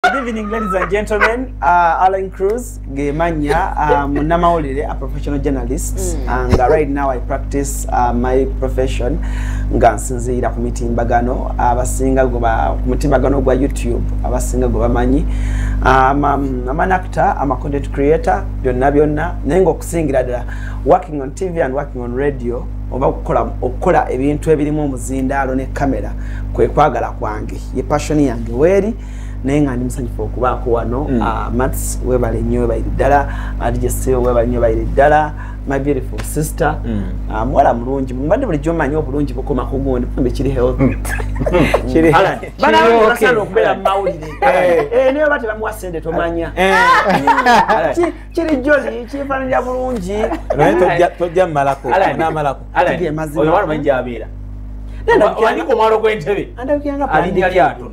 Good evening, ladies and gentlemen. Uh, Alan Cruz, Gemanya, um, Namaolire, a professional journalist. Mm. And uh, right now I practice uh, my profession. Nga nsinziira ku mitimbagano abasinga gwe ba mutimbagano gwa YouTube abasinga gwe bamanyi. Um, um, I'm an actor, I'm a content creator, byonna byonna. Naye ng'okusingira ddala working on TV and working on radio oba okukola okukola ebintu ebirimu omuzindaalo ne kamera kwe kwagala kwange ye passion yange weeri naye nga ndi musanyufu okubaako wano mm. ah, mats webale nnyo webalire ddala adijese ah, webale nnyo balire ddala my beautiful sister mm. ah, muwala mulungi mbadde bulijjo omanyi obulungi bukoma ku gundi kumbe kiri health mm. banaasana okubeera mumawulire eh. eh, naye oba tebamuwa sente tomanya eh. kiri joli kifananira bulungi naye tojja mumalako namalako oyo walamanyi gyabeera andabikiranga pulani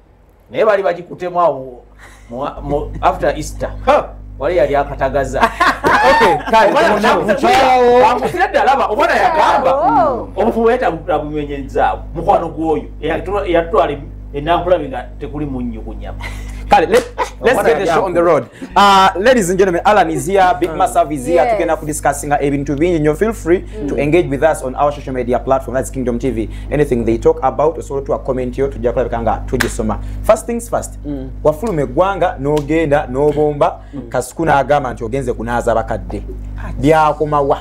naye bali bagikutemu awo after easter wali yali akatagaza amusira ddala aba omwana yagamba oh. omufu wetabumenyezaabo mukwano gwoyo eyatutwala enakulabi nga tekuli munnyo ku nyama kale let's get the show on the road uh, ladies and gentlemen alan is here big masav is here tugenda kudiscussinga ebintu bingi nyo feel free mm. to engage with us on our social media platform that's kingdom tv anything they talk about osobola tuwa comment yo tujja kulabika nga tugisoma first things first mm. wafuluma eggwanga n'ogenda n'obomba mm. kasuku n'agamba nti ogenze kunaaza bakadde byakomawa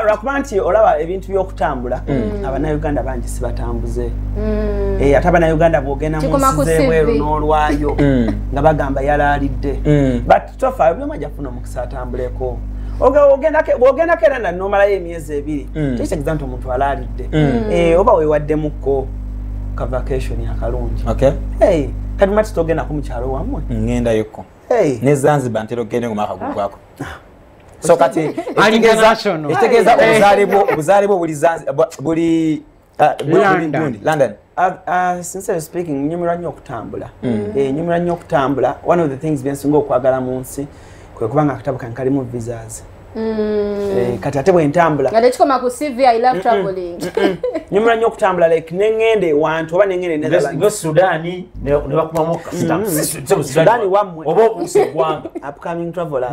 lwakuba nti olaba ebintu by'okutambula mm. abanauganda bangi sibatambuze mm. eh, ate abanauganda bwogenda munsi z'ebweru n'olwayo mm. nga bagamba yalaalidde mm. tofa ebyuma jafuna omukisa atambuleko ogendako era nanomalayo emyezi ebiri mm. kyekitegeza nti omuntu alaalidde mm. eh, oba wewaddemukko ka vacation akalungi kati mati togendako mukyalo wamwe ngendayoko ne zanzibar ntera okugenda nga omwaka gugwako ah. so kati ekitegeeza obuzaale bwo obuzaale bwo buli Ah, london ah, ah, sincerely speaking nyumira nnyo okutambula mm. eh, nyumira nnyo okutambula one of the things byensinga okwagala mu nsi kwe kuba nga akatabo kange kalimu visas mm. eh, kati ate bwentambula nyumira nnyo okutambula like neŋŋenda ewantu oba neŋŋendaoba upcoming travelers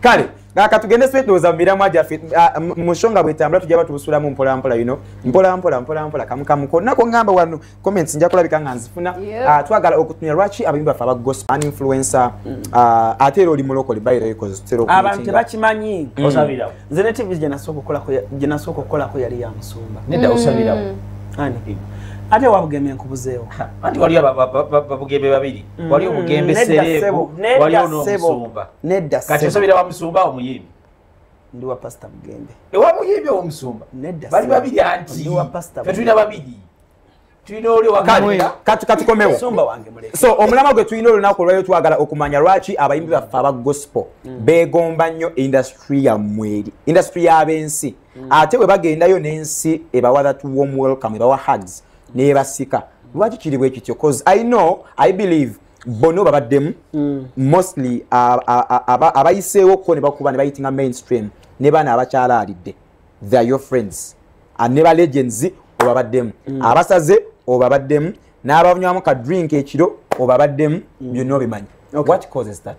kale kaka tugende swetuloza mumiramwa gyaffe ah, mushonga bwetambula tujaba tubusulamu mpolampola yino mpolampola mpolampola kamukamu konna kongamba wano comments nja kulabika nga nzifuna ah, twagala okutunya lwaki abayimbi baffe aba gospel an influencer mm. ah, ate era oli mulokole bayiroekozeabantu tebakimanyi mm. osabirawo nze ne tv gyenasooka okukolako yali ya musumba nedda mm. osabirawo ate wabugembe nkubuzeewo anti waliyo babugembe babiri waliyo obugembe sereebu waliyo n'omusumba nedda kati osabira wa musumba omuyimbi ndi wa pastor mugembe ewa muyimbi owo musumba nedda bali babiri anti fe tulina babiri tulina oli wakatikomewo so omulama gwe tulina olunaku olwayo twagala okumanya lwaki abayimbi baffe aba gospel mm. begomba nnyo industry yammweri industry y'abensi mm. ate bwe bagendayo n'ensi ebawa that warm welcome ebawa hugs nebasika lwaki kiri bwe kityo bcause i know i believe bono babaddemu mm. mostly abayiseewo ko nebakuba nebayitinga mainstream ne baana abakyala alidde theyare your friends ne ba legends obabaddemu mm. abasaze obabaddemu n'abanywamu ka drink ekiro obabaddemu mm. byonna obimanyi what causes that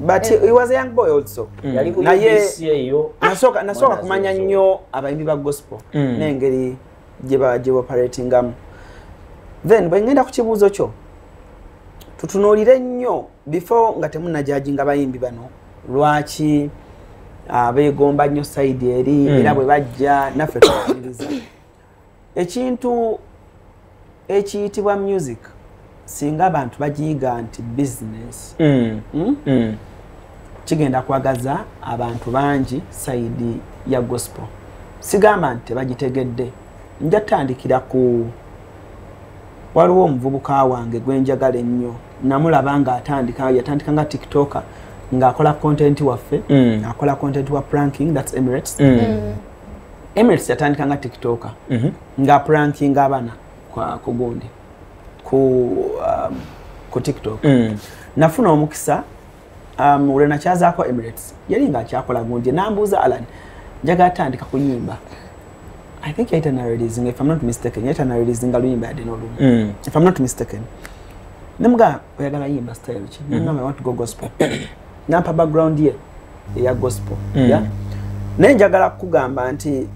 but eh. he was a young boy also mm. yali ku BBC eyo nasoka nasoka kumanya nnyo abayimbi ba gospel mm. nengeri gye ba gye operatingamu then bwe ngenda ku kibuuzo kyo tutunuulire nnyo before nga temunajajinga bayimbi bano lwaki ah, beegomba nnyo sayidi eri mm. era bwe bajja naffe tuaniriza ekintu ekiyitibwa music singa abantu bagiyiga nti business mm. Hmm? Mm. kigenda kwagaza abantu bangi saidi ya gospel sigamba nti tebagitegedde nja tandikira ku waliwo omuvubuka wange gwenjagala ennyo namulaba nga atandika yatandika nga tiktoka ng'akola content waffe mm. akola content wa pranking thats emirates mm. Mm. Emirates yatandika nga TikToker mm -hmm. nga pranking abana kwa kugundi ku um, ku TikTok mm. nafuna omukisa um, ule na chaza kwa Emirates yali nga chakola gundi nambuza Alan njaga atandika kuyimba I think yaita na releasing if I'm not mistaken yaita na releasing aluyimba ya deno lumu mm. if I'm not mistaken namuga oyagala yimba style chi mm -hmm. I want to go gospel nampa background ye eya gospel mm. yeah? naye njagala kukugamba nti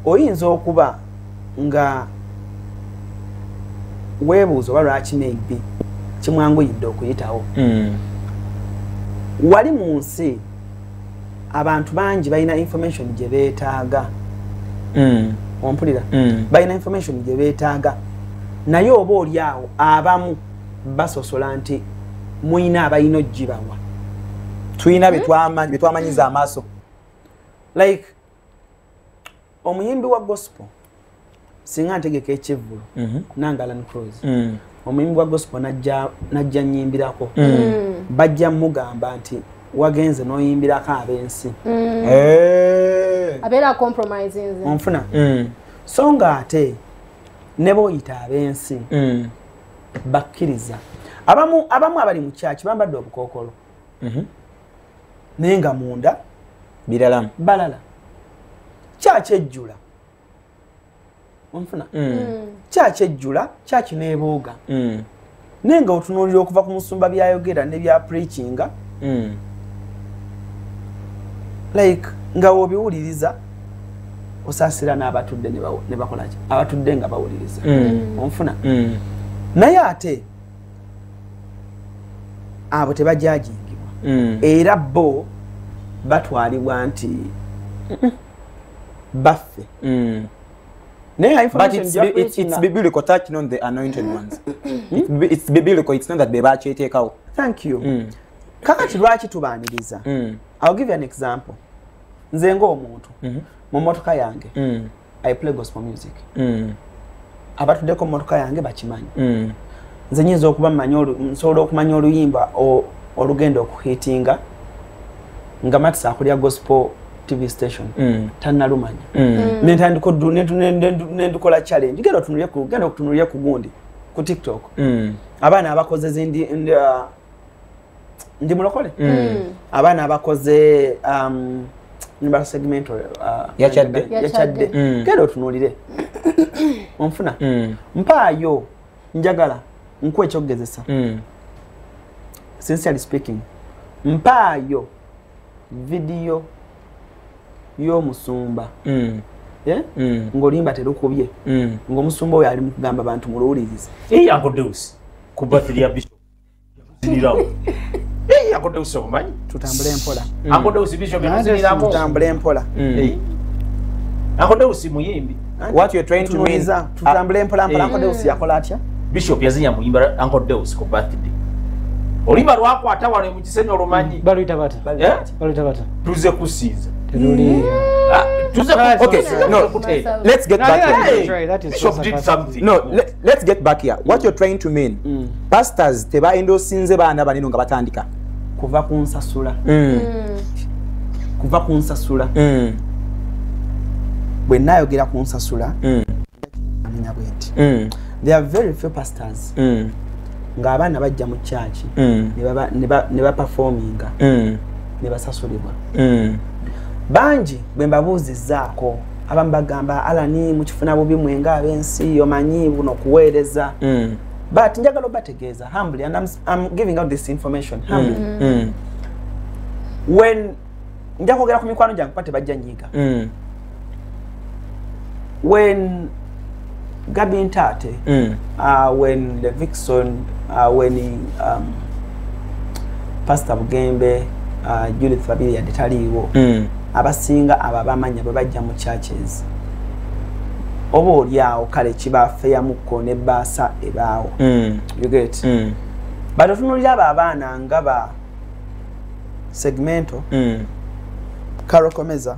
oyinza okuba nga webuuza oba lwaki maybe kimwanguyidde okuyitawo mm. wali mu nsi abantu bangi balina information gye beetaaga mm. ompulira mm. balina information gye beetaaga naye oba oli awo abamu basosola nti mulina abalina ogibawa tulina hmm? byetwamanyiza amaaso like omuyimbi wa gospel singa ntegeka ekivvulu mhm. nangalan cros hmm. omuyimbi wa gospel najja nyimbirako hmm. bajja mugamba nti wagenze noyimbirako abensi eh. onfuna so nga ate neba oyita abensi bakkiriza abamu abamu abali mu kyaki bambadde obukookolo mhm. naye nga munda biralamu balala kyaki ejjula onfuna mm. mm. kyaki ejjula kyaki nebuuga mm. naye nga otunuulira okuva ku musumba byayogera ne bya preachinga like nga wobiwuliriza osasira n'abatudde ne bakolaki abatudde nga bawuliriza mm. onfuna mm. naye ate abo tebajajingibwa mm. era bo batwalibwa nti baffe kakati lwaki tubaniriza ill give an example nze ng'omuntu mhm. mu mmotoka yange mm. i play gospel music mm. abatuddeko mu mmotoka yange bakimanyi mm. nze nyinza okuba nsobola okumanya oluyimba olugenda okuhitinga nga matisa akulya gospel tv station mm. tanalumanya mm. mm. nentandiko nendukola challenge genda otunulye ku genda okutunulye ku gundi ku tiktok mm. abaana abakoze zindi uh, ndi mulokole mm. mm. abaana abakoze um, nimba segmento uh, yakyadde yakyadde mm. genda otunuulire onfuna mm. mpaayo njagala nkuwa ekyokugezesa mm. sincerely speaking mpaayo vidiyo y'omusumba mm. yeah? mm. ng'olimba terukubye mm. ng'omusumba oyo ali mu kugamba bantu muluwulirize hey, akodeusi muyimbi tutambule mpolampla akodeusi yakola atya bishop yazinya muyimba ankodeus ku birthday olimba lwakwata wano mukisenyi olumanyi tuze kusinza let's get back here what you're trying to mean mm. pastors teba endosinze baana baneno nga batandika kuva ku nsasula mm. mm. kuva ku nsasula mm. bwe nayogera ku nsasula mm. amenya bwenti mm. there are very few pastors mm. nga abaana bajja mu kyaki mm. ne baperforminga mm. ne basasulibwa mm. bangi bwe mbabuuzizaako abamu bagamba alani mukifuna bubi mwenga abensi omanyi buno kuweereza mm. but njagala obategeeza humbly and I'm, I'm giving out this information mm. humbly mm. Mm. when njakwogera ku mikwano gyange kuba tebajja nyiiga mm. when Gabi Ntate, mm. uh, when the Vixen, uh, when he, um, Pastor Bugembe, uh, Judith Babiri and Taliwo, mm. abasinga aba bamanya bwe bajja mu churches. Oba oli awo kale kibafeyamukko ne baasa ebaawo. Mm. You get? Mm. But otunulira abo abaana nga ba segmento, mm. karokomeza,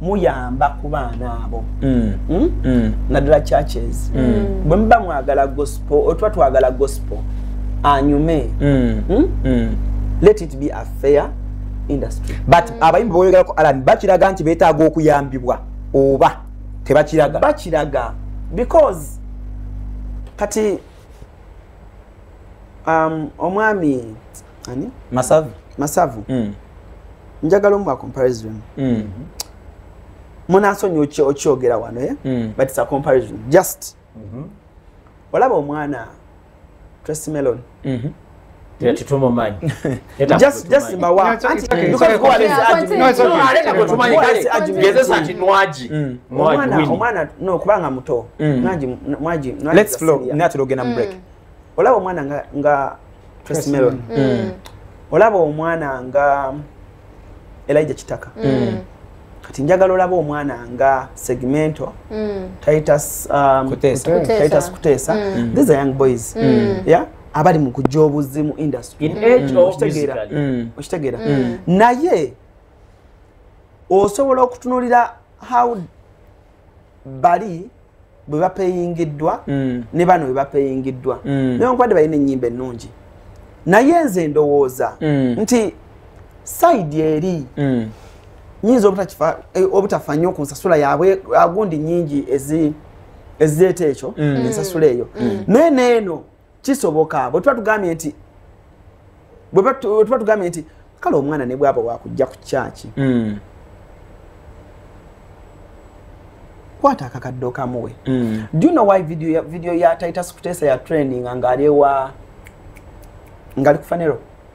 muyamba ku baana abo mm. Hmm? Mm. naddala churches mm. bwe muba mwagala gospel otuba twagala gospel anyume mm. Mm? Mm. let it be a fair industry but mm. abayimbi boyogerako alan bakiraga nti betaaga okuyambibwa oba tebakiraga bakiraga because kati um, omwami ani masavu masavu mm. njagala omu comparison mm. munasonyi okyogera wano eh? mm. but it's a comparison just mm -hmm. olaba omwana tracy melon mm -hmm. omwana nokubanga muto mwagi natera ogenda mu break mm. olaba omwana nga, nga Tracy Melon mm. mm. olaba omwana nga Elijah Kitaka mm. mm. kati njagala olaba omwana nga segmento mm. Titus, um, Kutesa. Kutesa. Titus Kutesa mm. these are young boys mm. yeah abali mu kujja obuzzi mu industry mm. okitegeera mm. okitegeera mm. naye osobola okutunulira how bali bwe bapeyingiddwa mm. ne bano bwe bapeyingiddwa mm. newankubadde balina ennyimba ennungi naye nze ndowooza mm. nti saidi eri mm. nyinza obutafa eh, nnyo ku nsasula yaabwe agundi nyingi ezireeta ekyo mm. ensasula eyo mm. mm. naye neeno kisoboka bwetuba tugambye nti bwetuba tugambye nti kale omwana ne bwaba wakujja ku kyaki mm. kwata akakadde okamuwe mm. do you know why video ya, video ya titus kutesa ya training ngaali ewa ngaali ku fanero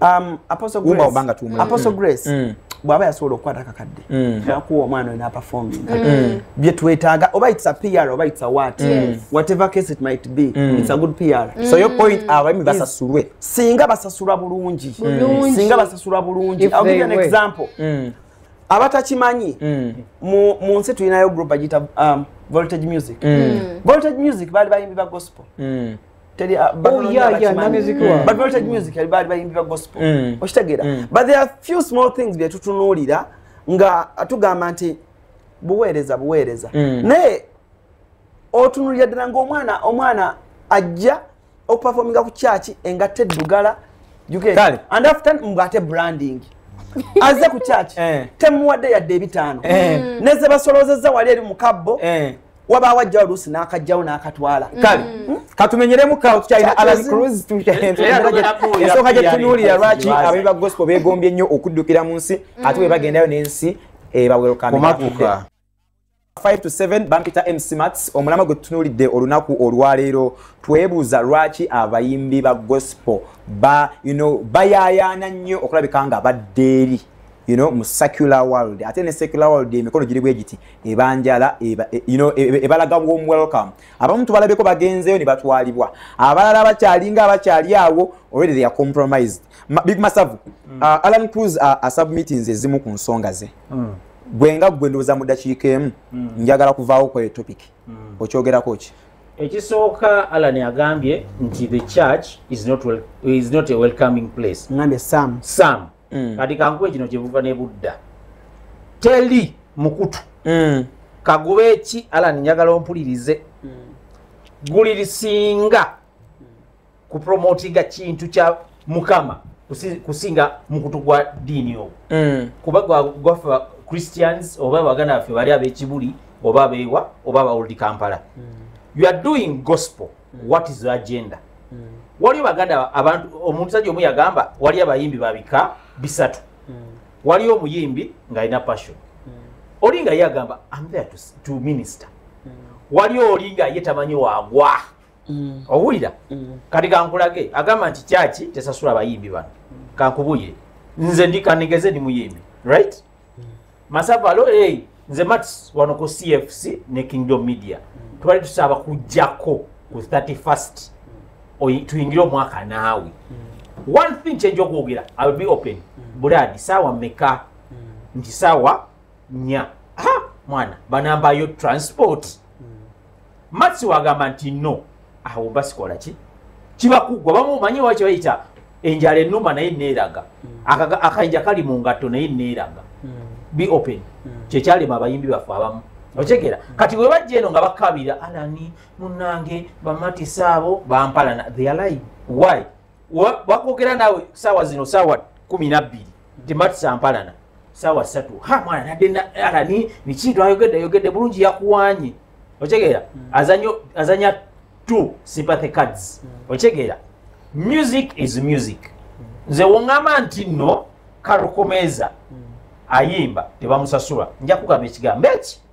Um, Apostle Grace. Uba ubanga tumwe. Apostle mm. Grace. Mm. bwaba yasobola okukwata kakadde mm. nakuwa omwana wena aperforminga mm. mm. byetwetaaga oba its a pr oba its a wat whatever case it might be its a good pr so your point abaimi basasulwe singa basasulwa bulungi singa basasulwa bulungi i'll give you an example abatakimanyi mu nsi tulinayo group agita um, voltage music voltage music baali bayimbi ba gospel teri ah, oh, bayimbira gospel mm. okitegeera mm. but there are few small things byetutunuulira nga tugamba nti buweereza buweereza mm. naye otunulira ddala ngaomwana omwana ajja okupafominga ku kyaki engatta eddugala and after ngate branding aze ku kyaki eh. temuwadde yadde ebitaano eh. nezebasolozeza wali eri mukabbo eh. wabaawo ajja oluusi n'akajjawo n'akatwala mm. kale hmm? katumenyeremu kawo tukyalina alan cruz ensooka gye tunuulira lwaki abayi ba gospel beegombye nnyo okuddukira mu nsi hmm. ate bwe bagendayo n'ensi ebawerokamaakuka 5 to 7 bampita mc mats omulama gwe tutunuulidde olunaku olwaleero twebuuza lwaki abayimbi ba gospel ba you know, bayaayaana nnyo okulabika nga baddeeri you know mu secular world ate ne secular world emikono giri bwe giti ebanjala eba, e, you know e, e, ebalaga warm welcome abamu tubalabeko bagenzeyo ne batwalibwa abalala bakyalinga abakyali awo already they are compromised Ma, big masavu mm. uh, alan cruz uh, a submittings ezimu ku nsonga ze mm. gwe nga gwe ndowooza mu dakiika emu mm. njagala kuvaawo kweyo topic mm. okyogerako ki ekisooka alan agambye nti the church is not, well, is not a welcoming place ngambye sam sam mm. kati kankuwe kino kyebuva ne budda teli mukutu mm. kagube ki alan njagala ompulirize mm. gulirisinga mm. kupromotinga kintu kya mukama kusinga mukutu gwa diini owo mm. kuba gwaffe christians oba abaganda baffe bali abekibuli oba abewa oba abaoldi kampala mm. you are doing gospel mm. what is the agenda mm. waliyo baganda abantu omusajja omu yagamba waliyo abayimbi babika bisatu mm. waliyo omuyimbi ng'alina passion mm. oli nga ye agamba am there to, to minister mm. waliyo oli nga ye tamanyi wagwa mm. owulira mm. kati kankulage agamba nti kyaki tesasula abayimbi bano mm. kankubuyire nze ndi kanigeze ndi muyimbi right masavalo hey, nze mats wano ku cfc ne kingdom media twali tusaba kujjako ku 31st tuyingire omwaka naawe mm. one thing kyenja okwogera iwill be open mm. buladi saawa meka mm. nti saawa nya mwana banambayo transport matsi wagamba nti no awo basikola ki kibakugwa bamu manyi wa kibayita enjala enuma naye neeraga mm. akayinja kali mu ngatto naye neeraga mm. be open mm. kyekyalema abayimbi baffe abamu okyegera kati bwe bajja eno nga bakabira alani munange bamatisa abo bampalana they are lying why wakwogera nawe saawa zino saawa kumi nabbiri nti matusampalana saawa satu ha mwana nadde alani nikintu ayogedde ayogedde bulungi yakuwanye okitegeera hmm. azanyo azanya two sympathy cards hmm. okitegeera music is music hmm. nze wongamba nti no karukomeza ayimba tebamusasula nja kugamba ekigambo eki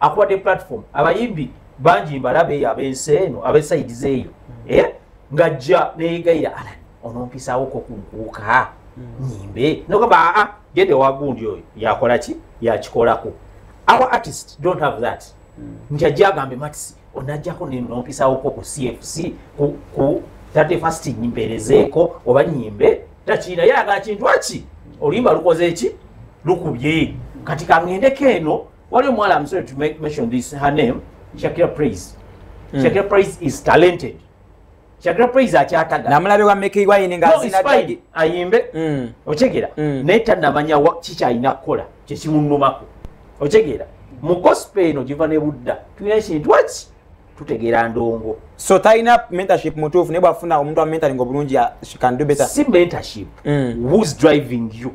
akuwadde platform abayimbi bangi mbalabe eyo ab'ensi eno ab'esayidi zeeyo mm. eh? ng'ajja neegayira ala onompisawo ko kunkuuka mm. nyimbe nogamba aa gende wagundi oyo yakola ki yakikolako our artist don't have that mm. nti ajja agambe matisi onajjako nompisawo ko ku cfc ku tate fast nyimperezeeko oba nyimbe takiina yalaga kintu aki oluyimba lukoze eki lukubye kati kangendeko eno What do you want? I'm sorry to make, mention this. Her name, Shakira Praise. Mm. Shakira Praise is talented. Shakira Praise akyataga. Namulabe wa Mickey Wine nga no, zina dagi. Ayimbe. Mm. Ochegera. Mm. Neta namanya wa chicha ayina kola. Chechi munumako. Ochegera. Mu gospel eno jiva ne Buddha. Tunyanya shini tuwachi. Tutegera ndongo. So taina mentorship mutufu. Nebo afuna umuntu wa mentoring obulungi ya she can do better. Si mentorship. Mm. Who's driving you?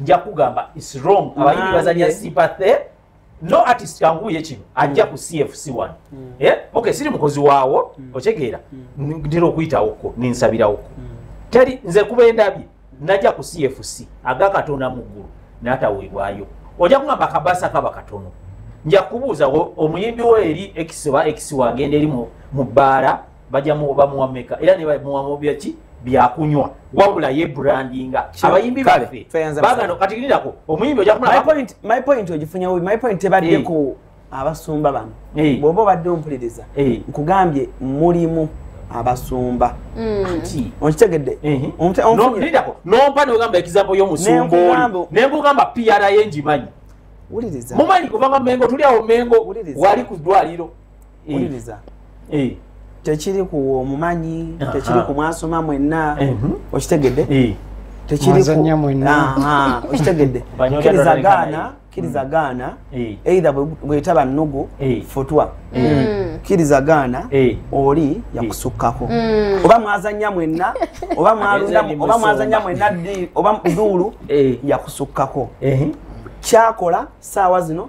nja kugamba is wrong abayimbi bazanya sympathy no artist kanguye kino ajja ku cfc one mm. eh? okay siri mukozi waawo mm. otegeera mm. ntera okuyitawoko ninsabirawoko mm. teri nze kuba endabye najja ku cfc aga katonda mu ggulu nataweebwayo ojja kugamba kabasa kaba katono nja kubuuza omuyimbi wo eri ekisiba ekisiwa agenda eri mu bbaala bajja bamuwa meka era ne bamuwa byaki byakunywa wabula ye brandinga abayimbi baffe bagano kati lindako omuyimbi ojja kumulaba my point my point ogifunya wubi my point tebadde eh. ku abasumba bano eh. bw'oba obadde ompuliriza eh. nkugambye mulimu abasumba mm. okitegedde lindako nompa nogamba ekizapo y'omusumba oli ne nkugamba pra ngimanyi mumanyi kubanga mengo tuli awo mengo wali ku ddwaliro eh. wuliriza eh. tekiri ku omumanyi tekiri ku mwasoma mwenna eh. mhm. okitegedde okitegedde kiriza gaana kiriza mm. gaana eitha bwetaba nnugu futwa mm. mm. kiriza gaana oli yakusukkako oba mwazanya mwenna oba mwazanya mwenna oba duulu yakusukkako kyakola saawa zino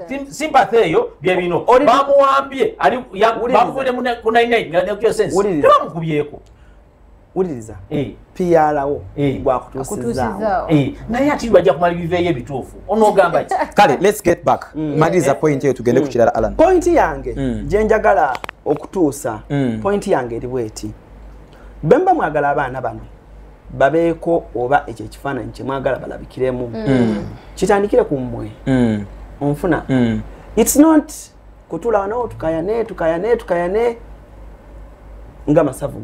sympathy eyo bye bino bamuwambye ali bamuvule mu 99 nga ne kyo sense tebamukubyeko wuliriza eh. piyalawo eh. gwakutuusizaawo eh. naye ati bajja kumala biveeyo ebituufu onoogamba ki kale lets get back mm. maliriza point eyo tugende mm. ku kirala alan point yange mm. gye njagala okutuusa point yange eri bweti bemba mwagala abaana bano babeeko oba ekyo ekifaananyi kyemwagala balabikiremu mm. mm. kitandikire ku mmwe mm. onfuna its not kutula wanawo tukayane tukayane tukayane nga masavu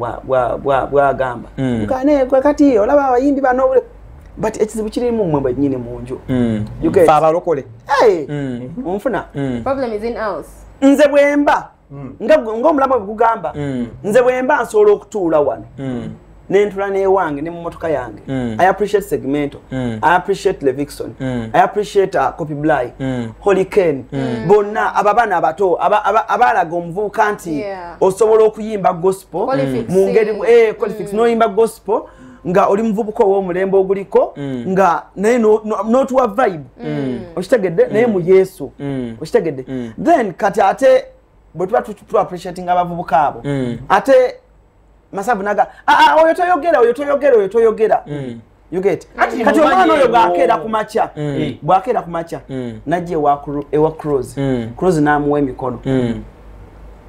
bwagamba tukayane kwekati olaba abayimbi banobule but ekizibu kirimu mmwe bwenyini mu nju abalokole onfuna nze bwemba mm. nga ng'omulamu bwe gugamba mm. nze bwe mba nsobola okutuula wano mm. nentula newange ne mumotoka yange mm. i appreciate segmento mm. i appreciate levixon mm. i appreciate uh, copy bly mm. holy ken mm. bonna aba bana abato abalaga aba, aba omuvubuka nti yeah. osobola okuyimba gospel mu ngeri eh, mm. noyimba gospel mm. nga oli muvubuka ow'omulembe oguliko mm. nga naye n'otuwa vibe mm. okitegedde naye mu yesu okitegedde then kati ate bwe tuba tuba appreciating abavubuka abo ate masavu naga ah, ah, oyo toyogera oyo toyogera oyo toyogera kati omwana oyo bwakeera ku makya mm. eh, bwakeera ku makya mm. najja ewa cross mm. cross n'amuwa emikono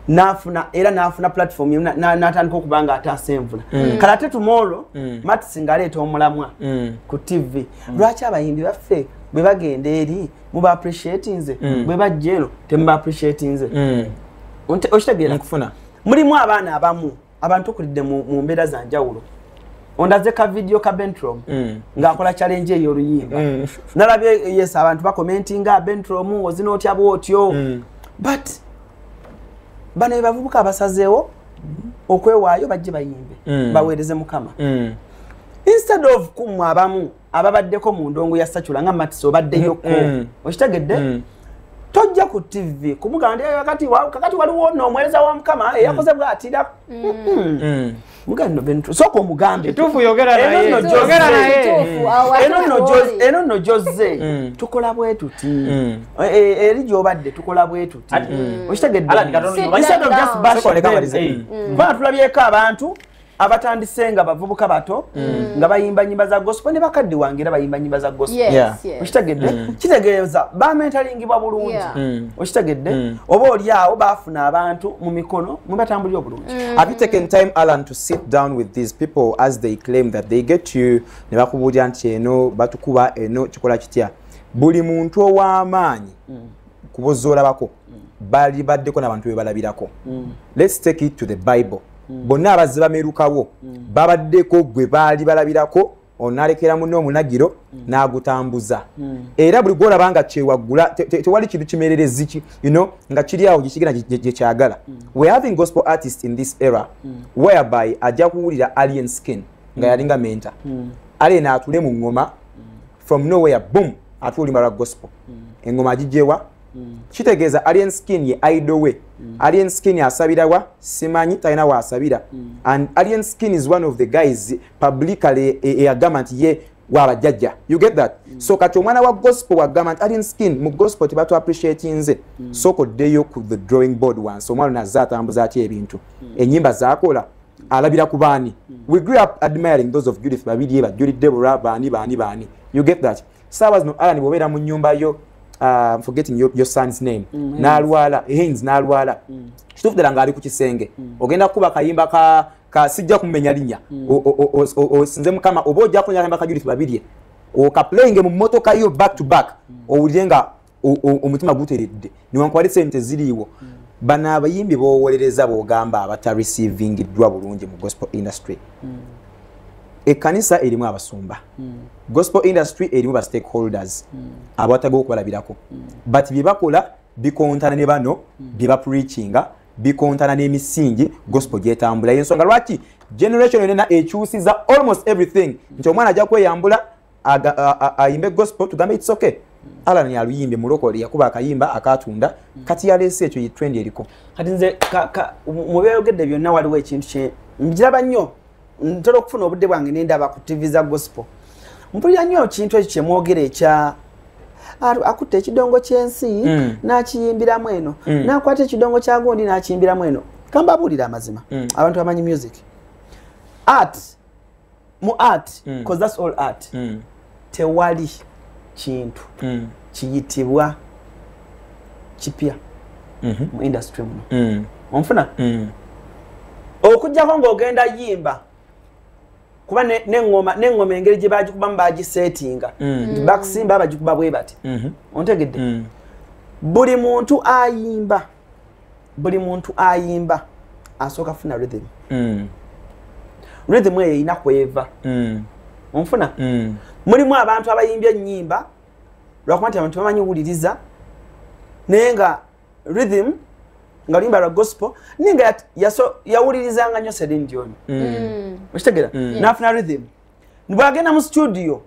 nafuna era nafuna platform natandika okuba nga ataasa envula mm. kala ate tumolo mm. matisi ngaleeta omulamwa mm. ku tv mm. lwaki abayimbi baffe bwe bagenda eri muba appreciati nze mm. bwe bajja eno temuba appreciati nze mm. okitegeera mulimu abaana abamu abantu kulidde mu mbeera za njawulo ondaze ka vidiyo ka bentrom mm. ng'akola challenge eyo oluyimba mm. nalabye yes abantu bakomentinga bentrom ozina otya bwotyo mm. but bano bebavubuka abasazeewo okwewaayo bajje bayimbe baweereze mukama instead of kumwe abamu ababaddeko mu ndongo ya sacula nga matisi obaddeyoko mm, mm. okitegedde mm. tojja ku tv kumugamba nti eh, kakati waliwo no omuweereza wa mukama eyakoze eh, bwatira sooka omugambeeno nno gyozze tukola bwe tuti mm. eh, eri gyobadde tukola bwe tuti okitegeddekubanga tulabyeko abantu abatandise nga bavubuka bato mm. nga bayimba nyimba za gospel ne bakadde wange era bayimba nyimba za gospel okitegedde mm. kitegeeza bamentalingibwa bulungi mm. okitegedde oba oli awo baafuna abantu mu mikono mwe batambulira obulungi have you taken time alan to sit down with these people as they claim that they get you ne bakubuulira nti eno batukuba eno kikola kitya buli muntu ow'amaanyi kubozoolabako bali baddeko n'abantu be balabirako let's take it to the bible mm. bonna abazze bamerukawo mm. babaddeko gwe baali balabirako onalekera munne omunagiro mm. n'agutambuza mm. era buli gwolaba nga kyewaggula tewali kintu kimererezi ki you know nga kiri awo gyekigenda gyekyagala mm. we having gospel artist in this era mm. whereby ajja kuwulira alien skin nga mm. yalinga menta mm. alien atule mu ngoma mm. from nowhere boom atuulimba lwa gospel mm. engoma agigyewa mm. kitegeeza alien skin ye idol way mm. alien skin asabira wa simanyi talina waasabira mm. and alien skin is one of the guys publicly e, e, eyagamba nti ye wabajjajja you get that mm. so kati omwana wa gospel wagamba nti alien skin mu gospel tebatu appreciate nze mm. soko ddeyo ku the drawing board wansi omwana nazze atambuza atya ebintu mm. enyimba zakola alabira ku baani mm. we grew up admiring those of judith babirye bajjulidde bulwa baani baani baani you get that saawa zino alani bwobeera mu nyumba yo uh, forgetting your, your son's name mm, nalwala hens nalwala mm. kituufu ddala ng'ali ku kisenge mm. ogenda kukuba akayimba ka, ka sijja kumumenya linnya mm. osinze mukama oba ojja kunya akayimba ka judith babirye okaplayinge mu motoka yo back to back mm. owulire nga omutima guteredde newankwali sente ziriiwo mm. bano abayimbi bowolereza bogamba abata receiving dwa bulungi mu gospel industry mm. ekanisa erimu abasumba mm. gospel industry erimu ba stakeholders mm. abataga okubalabirako mm. but byebakola bikontana ne bano mm. byeba preachinga bikontana n'emisingi gospel gyetambula yensonga lwaki generation yonena ekyusiza almost everything nti omwana ajja kweyambula ayimbe gospel tugambe it's okay alan yaluyimbye mulokole yakuba akayimba akatunda kati yaleese ekyo yetrend eriko kati nze mubyayogedde byonna waliwo ekintu kye njiraba nnyo ntera okufuna obudde bwange nendaba ku tv za gospel mpulira nnyo ekintu ekyo kyemwogera ekya akutte ekidongo kyensi mm. nakiyimbiramu eno mm. nakwata ekidongo kyagundi nakiyimbiramu eno kambabuulira amazima mm. abantu amanyi music art mu art mm. cause that's all art mm. tewali kintu mm. kiyitibwa kipya mm -hmm. mu industry muno mm. onfuna mm. okujjako ng'ogenda yimba kuba neŋoma neŋoma engeri gye bagikubamu bagiseetinga mm. mm. bakusimba bagikuba bwe bati mm -hmm. ontegedde mm. buli muntu ayimba buli muntu ayimba asooka funa rhythm mm. rhythm eyo erina kweva mm. onfuna mm. mulimu abantu abayimba ennyimba lwakuba nti abantu bamanyi wuliriza naye nga rhythm nga luyimba lwa gospel naye nga yawulirizanga nyo selin dioni mm. mm. okitegera mm. nafuna rhythm bwagenda mu studio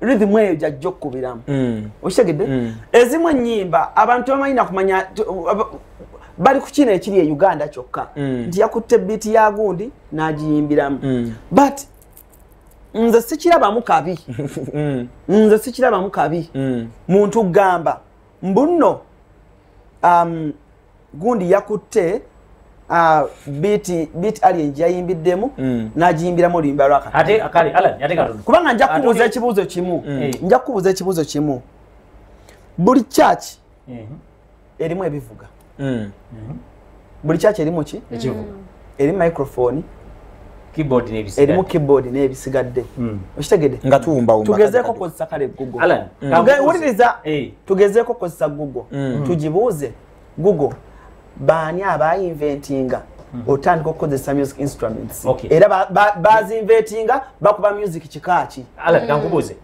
rhythm eyo jajja okukubiramu mm. okitegedde mm. ezimu ennyimba abantu bamanyi nakumanya bali ku kino ekiri e uganda kyokka mm. nti yakutte biiti ya gundi n'agiyimbiramu but nze sikirabamu kabi nze sikirabamu kabi muntu gamba mbuno um, gundi yakutte ah, biti biti alien jayimbiddemu mm. najiyimbiramu oluyimba lwakakubanga nja kubuuza ekibuuzo kimu mm. eh. nja kubuuza ekibuuzo kimu buli church mm-hmm. erimu ebivuga mm. mm-hmm. buli church erimu ki eri microphone keyboard n'ebisigadde erimu keyboard n'ebisigadde hmm. okitegede nga tuwumba wumba tugezeeko kozesa kale google alan hmm. wuliriza eh. tugezeeko kozesa google hmm. tugibuuze google baani abayinventinga otandika okukozesa music instruments era bazinventinga bakuba music kikaaki alan kankubuuze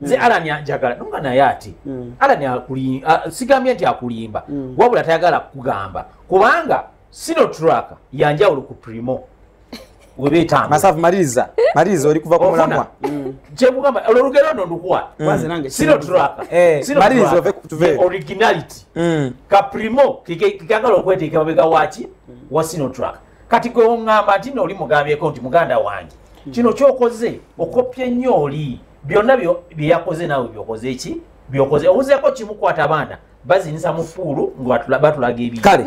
nze mm. alani anjagala nonga naye ati mm. alani akulimba sigambye nti akulimba mm. wabula tayagala kukugamba kubanga sino traka yanjawulo ku primo webeetamasavu maliriza maliriza oli kuva ku mulamwa mm. kyekugamba olwo olugero no ndukuwa mm. sino traka eh, maliriza tuve originality mm. ka primo kikagala okweteeka mabega waki wa sino traka kati gwe oŋŋamba nti nooli mugambyeko nti muganda wange kino kyokoze okopye nnyo oli byonna byeyakoze naawe byokoze eki byokoze owuzeko kimukwata baana bazinisa mu puulu batulaga ebiokiri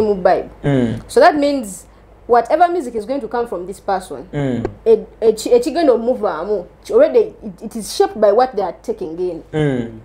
mu bible mm. so that means whatever music is going to come from this person mm. ekigenda omuvaamu already it is shaped by what they are taking in mm.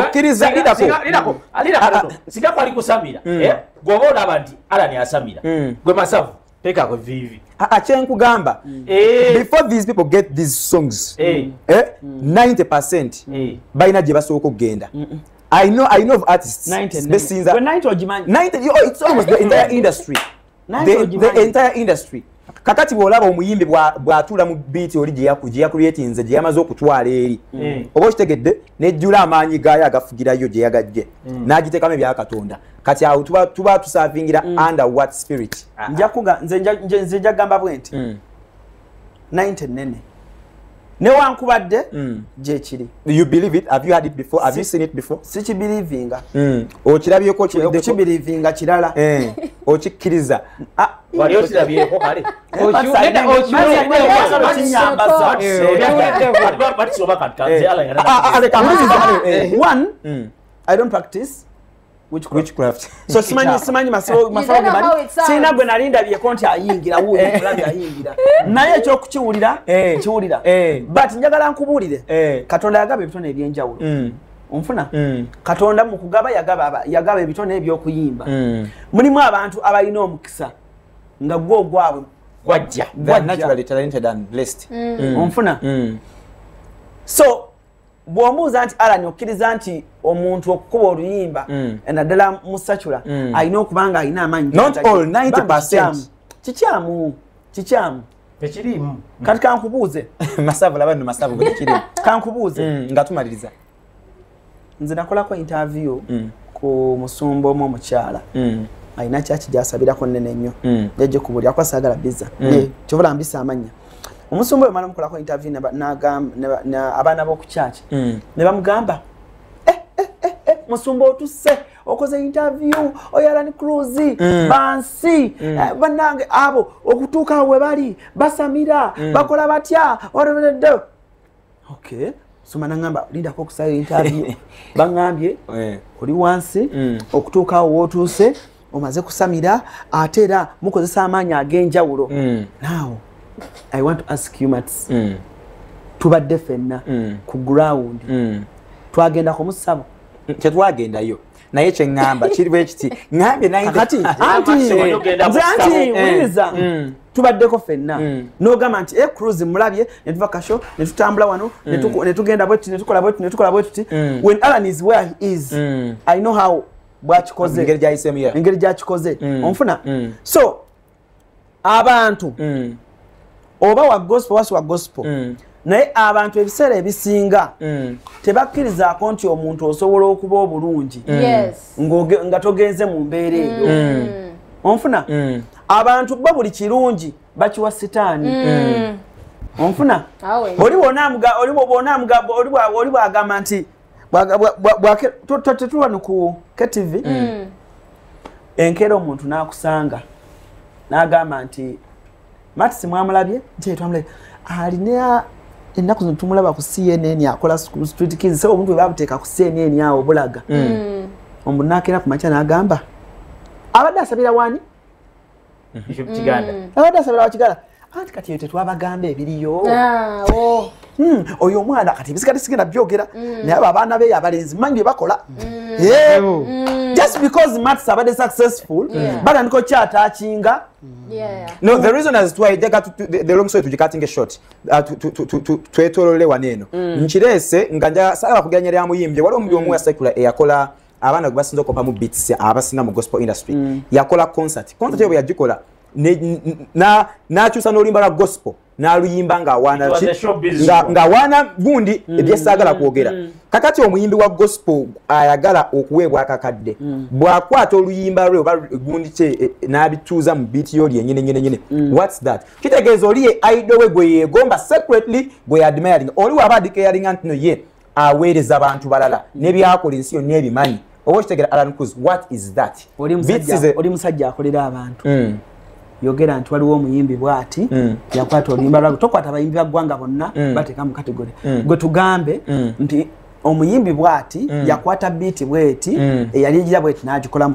okkiriza lidako singa kwali kusamira mm. eh? gwoba olaba nti alani asamira mm. gwe masavu tekako vivi akyenkugamba mm. eh. before these people get these songs 90 percent balina gye basooka okugenda I know, I know of artists. 90, 90. 90 or Jumanji. 90, oh, it's almost the entire industry. the, the entire industry kakati bwolaba omuyimbi bwatula mu biiti oli gyeyakuriatinze gyeyamaze okutwala eri mm. oba okitegedde nejjula amaanyi gaayo agafugirayo gyeyagajje mm. n'agiteekamu ebyakatonda kati awo tuba tusavingira mm. under what spirit ah, ah. nze njagamba bwe nti 90 nene newankubadde mm. gyekiri you believe it have you had it before have si, you seen it before sikibirivinga mm. okirabyeko okibirivinga kirala eh. okikkiriza ah, so simanyi simanyi masabo masabo ge bali sina gwe nali ndabye konti ayingira wuyo eh. ndabye ayingira naye ekyo kukiwulira eh. kiwulira eh. but njagala nkubulire katonda yagaba ebitone ebyenjawulo mm. onfuna mm. katonda mu kugaba yagaba yagaba ebitone ebyokuyimba mm. mulimu abantu abalina omukisa nga gwo ogwabwe gwajja gwajja onfuna so bwombuuza nti alan okkiriza nti omuntu okukuba oluyimba mm. naddala musacula mm. alina okuba nga alina amaanyi kikyamu kikyamu tekiriimu kati kankubuuze masavu laba no masavu bwekirimu kankubuuze mm, nga tumaliriza nze nakolako interview mm. ku musumba omu omukyala mm. alina kyaki gyasabirako nene nnyo mm. yajja kubulira kuba saagala biza mm. kyobola mbisa amanya omusumba wemala mukolako interview abaana bokukyaki mm. nebamugamba eh, eh, eh, musumba otuse okoze interview oyalani cruise mm. bansi mm. eh, banange abo okutuuka webali basamira mm. bakola batya okay soma nangamba lindako okusayo interview bangambye eh. oli wansi mm. okutuuka awo wotuuse omaze kusamira ate era mukozesa amaanyi ag'enjawulo mm. now i want to ask humats mm. tubadde fenna ku ground twagenda kumusabo tetwagendayo naye kyeŋŋamba kiri bwe kiti ŋambye nayekati wuliriza eh, mm. tubaddeko fenna mm. nogamba nti e cruz mulabye netuva kasho netutambula wano mm. netugenda bwetuti netukola bwetuti netukola bwetuti when alan is where he is i know how bwakikoze engeri gyakikoze onfuna so abantu mm. oba wa gospel wasi wa gospel mm. naye abantu ebiseera ebisinga mm. tebakkirizaako nti omuntu osobola okuba obulungi mm. yes. nga togenze mu mbeera eyo mm. mm. onfuna mm. abantu bo buli kirungi bakiwa sitaani mm. mm. onfuna oli bwona amugamba nti tetulwa nuku ktv mm. mm. enkeera omuntu nakusanga nagamba nti matisi mwamulabye jetwamulabye alina ennaku zino tumulaba ku cnn akola street kids se omuntu webabuteeka ku cnn awo bulaga mm. omuntu nakeera ku makya nagamba abadde asabira wani kiganda mm. abadde asabira wakiganda anti kati eyo tetwabagamba ebiriyo ah, oh. hmm, oyo omwana kati ebisikati sigenda byogera mm. naye abo abaana beyo abalenzi manyi byebakola mm. eh, oh. just because mats abadde successful batandika okyatakinga no the reason as twa ejaga the long story tujikatinge short uh, twetolole wano eno nkireese nga nja sala bakugeranya lya muyimbye waliwo omulimu omu wasekula eyakola abaana gwe basinza okopa mu beats abasinga mu gospel industry mm. yakola concert concert mm. yo bwe yagikola n'akyusa n'oluyimba lwa gospel n'aluyimba ng'awaana ki ng'awaana gundi mm. ebyesaagala kwogera mm. kakati omuyimbi wa gospel ayagala okuweebwa akakadde mm. bw'akwata oluyimba lwe oba gundi kye e, e, n'abituuza mu biiti yo lyenyini nyini nyini mm. whats that kitegeeza oli ye aido we gwe yeegomba secretly gwe yadmiring oli waaba adikayalinga ntino ye aweereza abantu balala nebyakola ensi yonna ebimanyi oba okitegera alan cruz what is that oli musajja akolera abantu mm. yogera nti waliwo omuyimbi bwati mm. yakwata oluyimba lwabwe tokwata abayimbi baggwanga bonna mm. bateeka mu kategori mm. gwe tugambe mm. nti omuyimbi bwati mm. yakwata biiti bweti mm. eyali egira bweti nagikolamu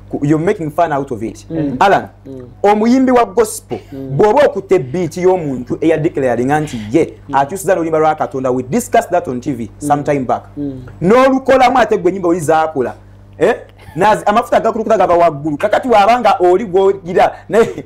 you're making fun out of it mm. alan mm. omuyimbi wa gospel mm. bwoba okute beat yomuntu eya declaring anti ye mm. akyusiza nolimba lwa katonda we discuss that on tv mm. sometime back mm. nolukolamu ate gwe nyimba oli zakula eh? amafuta gakulukuta gava waggulu kakati wabanga oli gwogira naye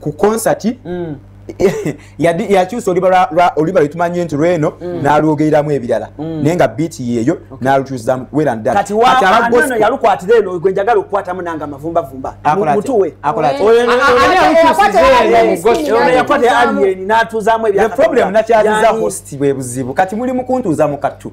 ku concert mm. yakyusa oluba lwetumanyi nti lweno mm. nalwogereramu ebirala mm. naye nga biiti yeeyo nalukyusamu werandayalukwatira eno gwenjagala okukwatamu nanga amavumbavumba mutuwe problem nakyaziza host bwebuzibu kati muli mukuntuuza mukattu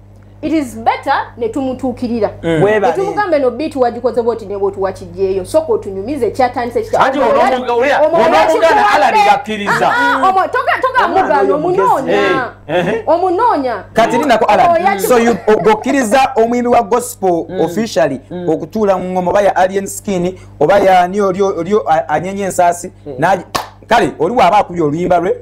it is better ne tumutuukirira mm. ne tumugamba eno biiti wagikoze bwoti ne bwoti wakigyeyo soka otunyumize ekyatandise kitatogamugana omunoonya omunoonya omunoonyaokkiriza omuyimbi wa gospel mm. officially mm. okutuula mu ngoma oba ya alien skin oba yani oli anyenye ensaasi mm. kale oli waaba akubye oluyimba lwe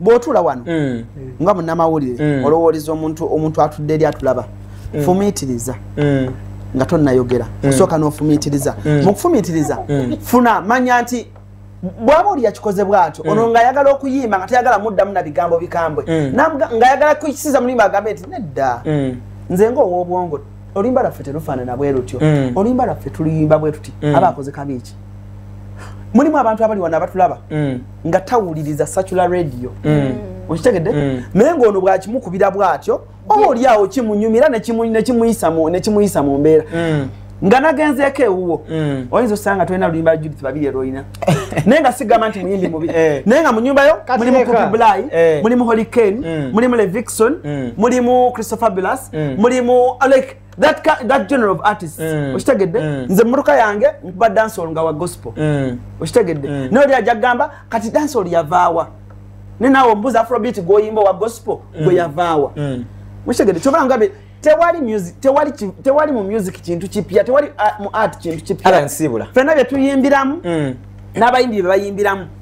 bwotula wano mm. nga munamawulire mm. olowoleza omuntu omuntu atudde eri atulaba mm. fumitiriza mm. nga tonayogera mm. osooka nofumitiriza mm. mukufumitiriza mm. funa manya nti bwaba oli yakikoze bwatyo mm. ono ngaayagala okuyimba nga tayagala muddamu na bigambo bikambwe mm. ngaayagala kukisiza mulimba agambe nti nedda mm. nze nga ow'obwongo oluyimba lwaffe terufaanana bwe lutyo mm. oluyimba lwaffe tuluyimba bwe tuti mm. aba akoze kabi eki mulimu abantu abali wano abatulaba mm. nga tawuliriza sacula radio mm. okitegedde mm. naye ngaono bwakimukubira bwatyo oba olyawo kimunyumira nekimuyisa mu mbeera mm. nga nagenzeeko ewuwo mm. oyinza osanga tolina luyimba judith babiri erolina naye nga sigamba nti muyimbi mubi eh. naye nga munyumbayo mulimu kupi bly eh. mulimu holy kane mm. mulimu levixon mm. mulimu christopher bulas mulimu like that, that general of artists mm. okitegedde mm. nze mmotoka yange nkuba dansol nga wa gospel mm. okitegedde mm. naye oli ajja kugamba kati dansol yavaawa ne naawe omubuuza afrobit gwoyimba owa gospel mm. gwe yavaawa mm. okitegedde kyova ngabe tewali music tewali tewali mu music kintu kipya tewali uh, mu art kintu kipya fena byetuyimbiramu mm. n'abayimbi bye bayimbiramu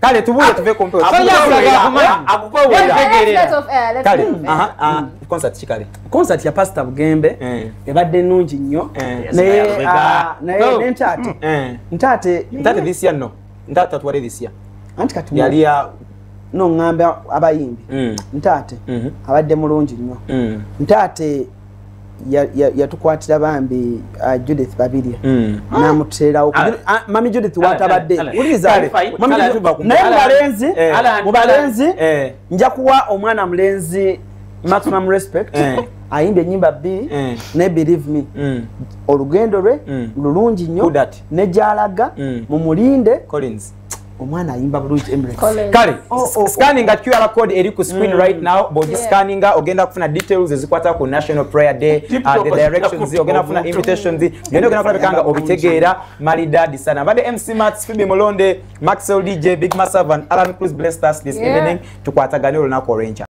kale tubuule tuve ku mpewo concert kikale concert ya pastor bugembe eh. ebadde nnungi nnyo eh. naye ah, oh. ntaate mm. eh. ntaate ntaate this year no ntaate tatuwale this year anti kati yali ya no ngamba abayimbi mm. ntaate mm-hmm. abadde mulungi nnyo mm. ntaate yatukwatira bambi uh, judith babirye hmm. namuteerawo ah. ah, mami judith ah, watabadde eh, eh, naye mubalenzi eh. mubalenzi nja kuwa omwana mulenzi maximum respect ayimba enyimba bbiri mm. ne believe me mm. olugendo lwe mm. lulungi nnyo negyalaga mumulinde omwana ayimba bulungi kale oh, oh, oh. scanninga qr code eri ku screen mm. right now bwogi scanninga ogenda kufuna details ezikwata ku national prayer day uh, the directions ogenda kufuna invitations byonna ogenda kulabika nga obitegeera malidadi sana mbadde mc mats fibi mulonde maxwell dj big masavan alan cruz blessed us this evening tukwatagane olunaku olwenkya